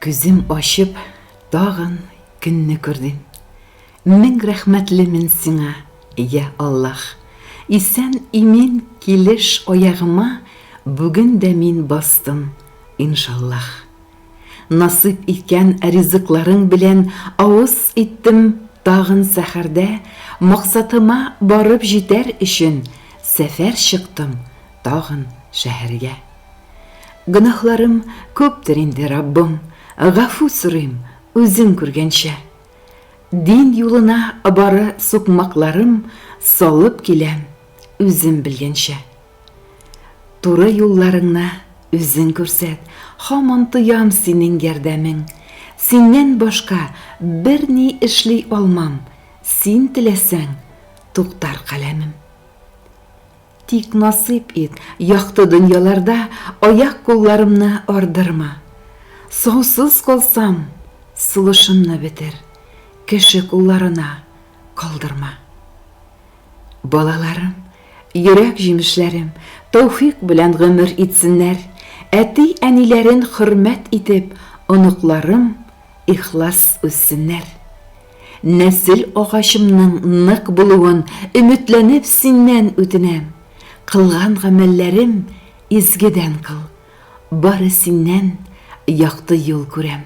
Күзем ачып, тагын көнне күрдем. Мең рәхмәтлемен сиңа, йә Аллаһ! Исән-имин килеш аягыма бүген дә мин бастым, иншаллаһ! Насыйп иткән ризыкларың белән авыз иттем Тагын сәхәрдә максатыма барып җитәр өчен Сәфәр чыктым тагын шәһәргә Гөнаһларым күптер инде, Раббым, гафу сорыйм, үзең күргәнчә Дин юлына бары сукмакларым салып киләм, үзем белгәнчә. Туры юлларыңны үзең күрсәт, Һаман тоям синең ярдәмең. Синнән башка берни эшли алмам, Син теләсәң, туктар каләмем. Тик насыйп ит, якты дөньяларда Аяк-кулларымны ардырма. Саусыз калсам, сулышымны бетер, Кеше кулларына калдырма. Балаларым, йөрәк җимешләрем, тәүфик белән гомер итсеннәр, әти-әниләрен хөрмәт итеп, оныкларым ихлас үссеннәр. Нәсел агачымның нык булуын өметләнеп синнән үтенәм. Кылган гамәлләрем изгедән кыл, бары синнән якты юл күрәм.